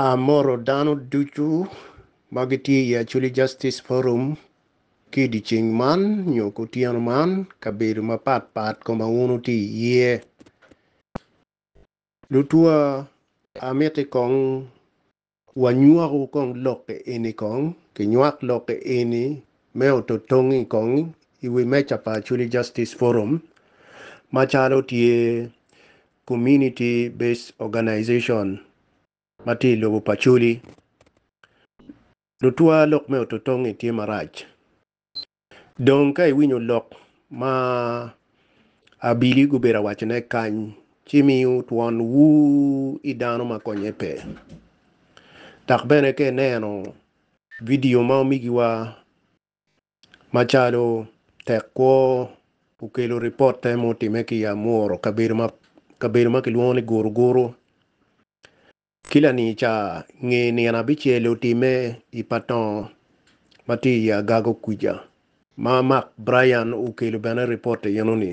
Amoro dano ducu ma gitye i Acholi Justice Forum ki i dyeceng man nyo kutyeno man kabedo mapat pat koma wun wutye iye. Lutwa, amiti kong wanywaku kong lokke eni kong, kinywak lokke eni me ototongi kong i wi meja pa Acholi Justice Forum macalo tye Community Based Organization ma tye i lobo pa Acholi. Lutwa lok me oto tongngi tye marac. Dong ka iwinyo lok ma abili gubedo awacone kany, ci miu twon wu i dano ma konye pe. Dok bene ka ineno vidio ma omigiwa Macalo tek kwo okelo ripotte ma otime ki i Amuru, kabedo ma kilwongo ni Guruguru, ki lanica nge nino abicel otime i Patongo ma tye i Agago kwica, ma Mark Bryan okelo bene ripotte enoni.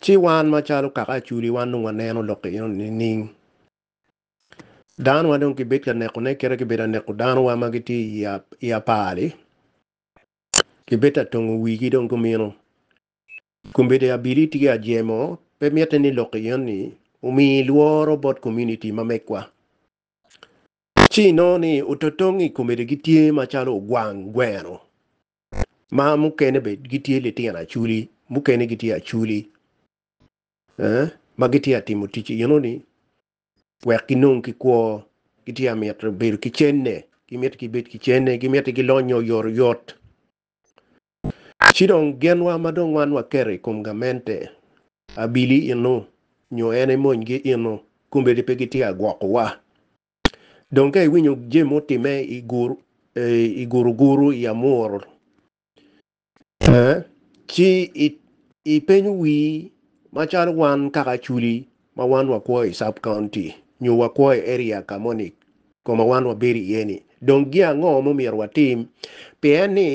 Ci wan macalo kaka Acholi wan dong waneno lok enoni nining? Danowa dong kibed ka nekone kit ma kibedo ka neko danowa ma gitye i apar-ri, kibed ka tongo wigi dong kumeno. Kombeddi abili tye ajemo, pe mitte ni lok iye ni omi lworo bot komuniti ma megwa. Ci inongo ni ototong i kombeddi gitye macalo ogwang gweno, ma mukene bene gitye litino aculi, mukene gitye aculi ma gitye ka timo tic enoni wek ginong ki kwo, gitye ka mito bedo ki cente, gimito gibed ki cente, gimito gilonyo oyotoyot. Ci dong genwa ma dong wan waketo i kom gamente, abili eno nyo en emonygi eno, kombeddi pe gitye ka gwokowa. Dong ka iwinyo jami mutimme i guruguru i Amuru, Ci ipenyo wii macalo wan kaka Acholi ma wan wakwo i Sub County nyo wakwo i Area ka moni koma wan wabedo iye ni dong gin ango ma omyero watim pien ni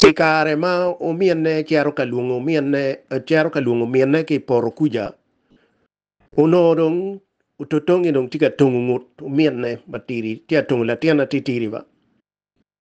i kare ma ominne cito ka lwongo ominne cito ka lwongo minne ki i poto kuca onongo dong ototongi dong tye ka tongo ngut ominne matidi tye ka tongo latinne atitidi ba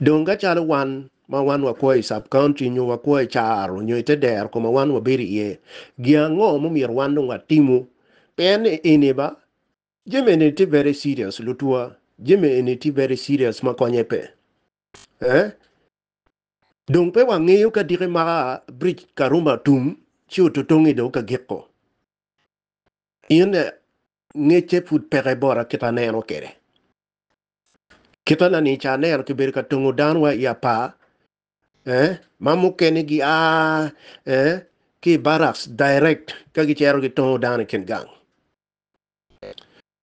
Dong ka calo wan ma wan wakwo i Sub-County nyo wakwo i caro nyo i te dero ko ma wan wabedo iye, gin ango mumyero wan dong watimu? Pien eni ba, jami eni tye very serious lutwa, jami eni tye very serious ma konye pe. Eh? Dong pe wangeyo ka diki maka Bridge Karuma tum ci ototongi dong ka giko. In ngecce pud peke bota kita aneno kede. Kitanani i Canel kibedo ka tongo dano wa i apar, eh, ma mukene gi a eh, ki i barracks direct ka gicero gitongo dano i kin gang.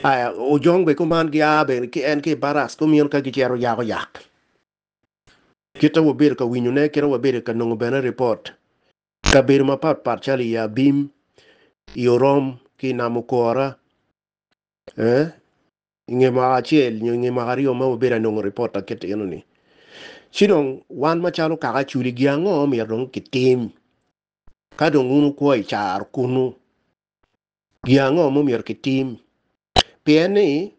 Aya, ojong be kuman gi a be ki en ki i barracks kumino ka gicero yako yak. Kita wabedo ka winyone, kita wabedo ka nongo bene report kabedo mapat pat calo i Abim, i Orom ki i Namukora, eh, I nge mwaka acel nyo i nge mwaka aryo ma wabedo anongo ripot aketo eno ni, ci dong wan macalo kaka aculi gin ango ma myero dong kitim ka dong wun wukwo i caro kunnu? Gin ango ma myero kitim? Pien ni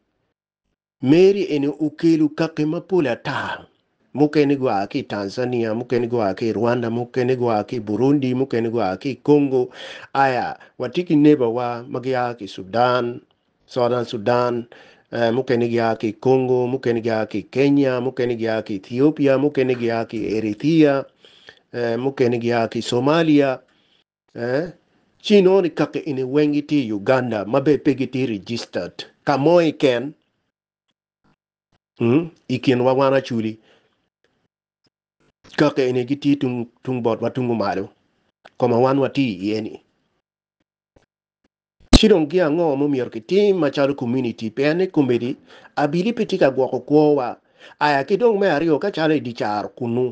Meri eni okelo kaki mapol ata, mukene gua ki i Tanzania, mukene gua ki i Rwanda, mukene gua ki i Burundi, mukene gua ki i Congo, aya watye ki nebawa ma gia ki i Sudan, Southern Sudan, mukene gia ki i Congo, mukene gia ki i Kenya, mukene gia ki i Ethiopia, mukene gia ki i Eritrea, mukene gia ki i Somalia. Ci inongo ni kaki eni weng gitye i Uganda ma bene pe gitye registered. Ka mo keken hmm, i kinwa wan Acholi, kaki eni gitye tung, tung botwa tungu malo, koma wan watye iye-ni. Ci dong gin ango ma omyero kitim macalo komuniti? Pien ni komedi abili pe tye ka gwoko kwowa. Aya ki dong me aryo, ka calo i dye caro kunnu,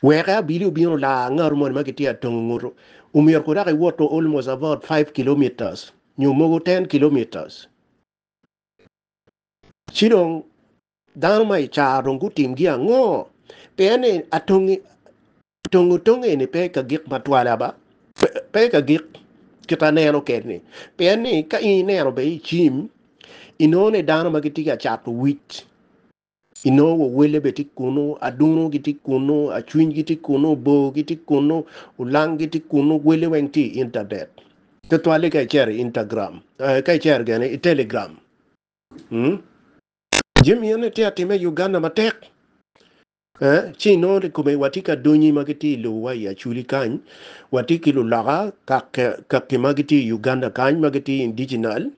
wek abili obin olar ngatu moni ma kitye ka tongo ngutu, omyero kudok iwoto almost about five kilometres nyo mogo ten kilometres. Ci dong Dano ma i car dong gutimgi ango? Pien ni atongi tongo tong eni pe i ka gik ma twala ba, pe i ka gik kit aneno ked ni. Pien ni ka in ineno bene i cim, inongo ni dano ma gitye ka cato wic, inongo wawelle bene tye kunu, aduno gitye kunu, acwiny gitye kunu, bor gitye kunu, olang gitye kunu, welle weng tye i intanet. Tutwal-li ka icero i Intagram, ka icero gene i Telegram. Jami eni atye ka timme i Uganda matek ee, ci inongo ni kome watye ki adongi ma gitye i lobowa i Acholi kany, watye ki luloka kaki ma gitye i Uganda kany ma gitye indiginal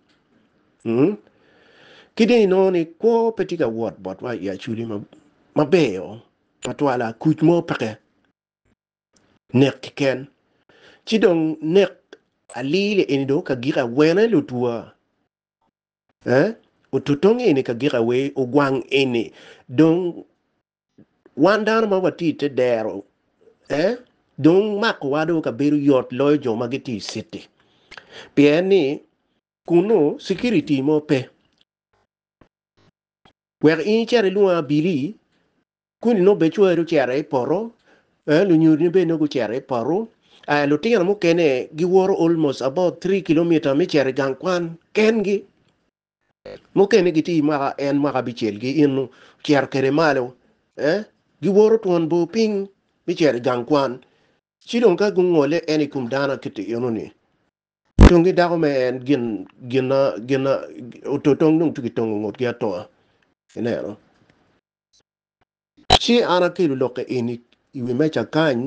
mm ki dong inongo ni kwo pe tye ka wot botwa i Acholi maber twatwala, kuc mo peke nek keken ci dong nek alili eni dong kagike awene lutwa. Eh, ototong eni ka gik awe ogwang eni dong wan dano ma watye i te dero eh dong makowa dong ka bedo yot loyo jo ma gitye i city pien ni kunu security mo pe wek in icit ilwongo abili Kuni nongo bene cwari ocito i poto, ee lunyodini bene nongo gucito i poto, ee lutino mukene giwoto almost about three kilometer me cito i gang kwan kengi, mukene gitye i mwaka en mwaka abicel gi eno ocito kwede malo, ee giwoto twon bor piny me cito i gang kwan, ci dong ka gungole en i kom dano akiti eno ni tongi dako me en gin gina gina ototong dong tye ki tongo ngutgi atonga ineno. Ci an akelo lokke eni i wi meja kany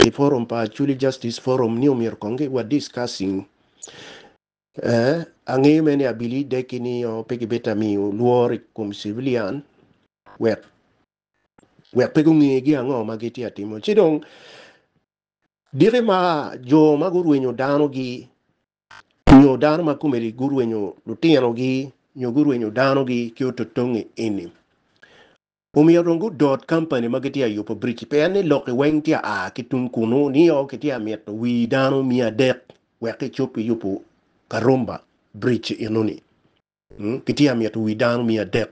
i forum pa Acholi Justice Forum ni omyero kong ki wa discussing eh, angeyo mere ni abili deki nio pe ki bita miyo lworo i kom civilian wek wek pe gunge gi ango ma gitye atimo ci dong diki ma jo ma gurwenyo dano gi Nyo dano ma komeli gurwenyo lutinogi nyo gurwenyo danogi ki ototongi eni. Omyero dong gudot kampani ma gitye ka yubo biric-ci pien ni lokki weng tye ka a ki tung kunnu nio kitye ka mito wii dano miya adek wek kicob ki yubo Karumba biric-ci enoni. Kitye ka mito wii dano miya adek.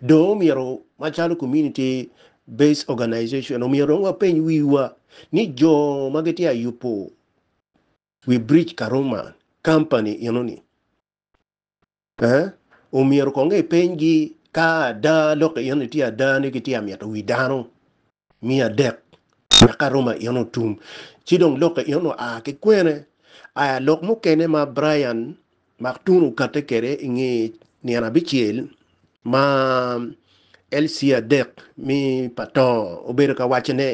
Dong omyero macalo Community Based Organization omyero dong wapeny wiwa ni jo ma gitye ka yubo Wi Bridge Karuma Company enoni eh omyero kong ipeny gi ka ada lok enoni tye ada ni gitye ka mito wi dano miya adek wek Karuma enoni otum ci dong lok enoni oa ki kwene? Aya lok mukene ma Brian Maktun okatte kwede inge nino abicel ma LC adek mi pa Tongo obedo ka wacone.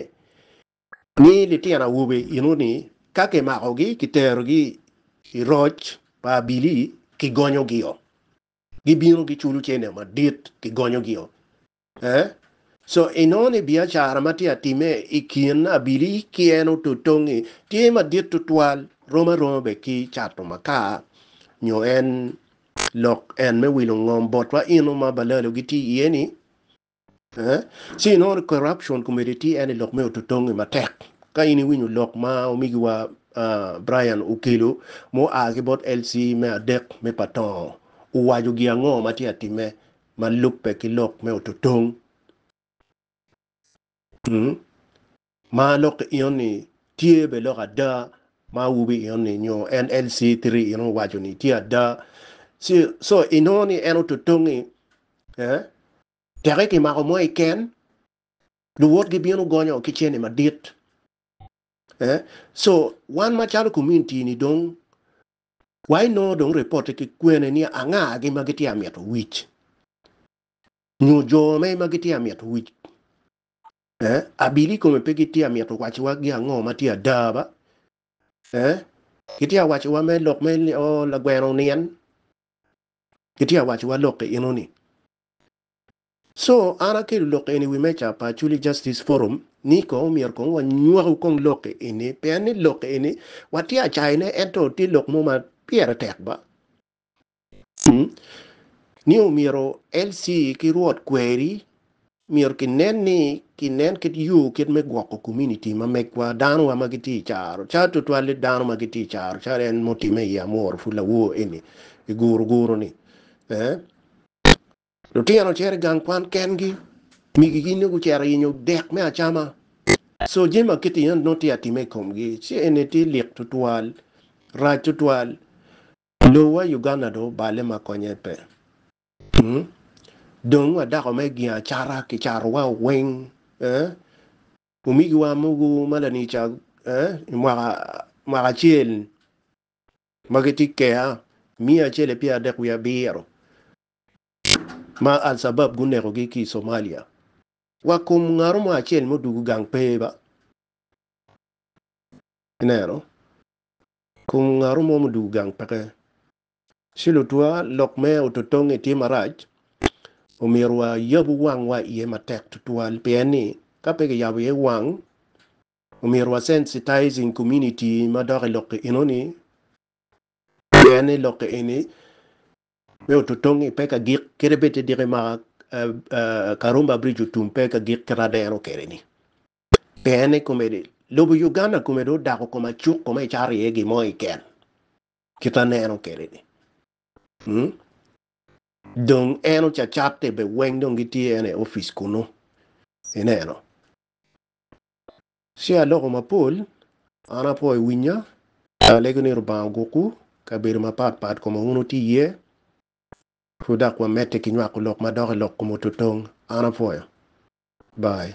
Ni litino awobe eno ni ka kimakogi kiterogi i roc pa abili kigonyo gio gibino giculo cene madit kigonyo gio eh so eno ni biacara matye atime i kin abili ki eno totongi tye madit tutwal rom aroma bed ki cato makar nyo en lok en me wilo ngom botwa eno ma balalo gitye iye ni Ci inongo ni corruption komedi tye en i lok me ototongi matek. Ka in iwinyo lok ma omigiwa Brian okelo ma oa ki bot LC me adek me Patongo, owaco gin ango ma tye atimme ma lubbe ki lok me ototong? Ma lok ki ino ni tye bene lok ada ma awobi ino ni nyo NLC three ino owaco ni tye ada. Ci so inongo ni en ototongi eh teke ki mako mo i ken luwot gi bino gonyo ki cene madit eh so wan ma calo community ni dong wa inongo dong reporte ki kwene ni anga gi ma gitye amito wic nyo jo me ma gitye amito wic Eh, abili i kome pe gitye a mito wacowa gi ango ma tye ada ba? Eh, gitye a wacowa me lok me ni, oh, lagweno onien. Gitye a wacowa lok-ki eno ni. So, an akelo lok-ki eni i wi meja pa Acholi Justice Forum, ni kong myero kong wanywakku kong lok-ki eni, pien ni lok-ki eni watye a cayone ento tye lok mo ma pire tek ba? ni omyero LC ki rwot kweri myero ki nen ni ki nen kit yo kit me gwoko community ma megwa dano wa ma ki tye icaro car tutwali dano ma ki tye icaro car en mutime i amworo pud lawor eni i guru guru ni eeh lutino cito i gang kwan ken gi migi gi nyo gucito yenyo dek me acama so jami ma kiti eno nongo tye atime i kom gi ci eni tye lik tutwal rac tutwal Lobo wa Uganda dong obale ma konye pe. Hum. Dong wa dako me gingo acata ki cato wa weng eh. Omigi wa mogo ma lanica eh i mwaka mwaka acel ma gi tye keya miya acel epyer adek wiye abiro ma alsabab guneko gi ki Somalia. Wa kom ngato mo acel ma odugu gang pe ba. Ineno. Kum ngaru mo mudugu gang peke ci lutwa lok me ototonge tye marac, omyero wa yabu wang wa iye matek tutwal pien ni ka pe kiyabo iye wang omyero wa sensitizing community ma dok ilokke enoni pien ni lokke eni me ototonge pe ka gik kede bed te diki ma Karumba bridge otum pe ka gik kit adero kede ni. Pien ni komedi, lobo Uganda kome dong odako kom acuk kome icato iye gin mo ikel kit aneno kede ni mm dong en ocacatte be weng dong gitye ene office kunu ineno ci aloko mapol an apo iwinya alego ni Lubanga ogukku kabedo mapat pat koma wun wuti iye pud dok wamedde ki nywako lok madok ilok kom ototong an apwoyo bye.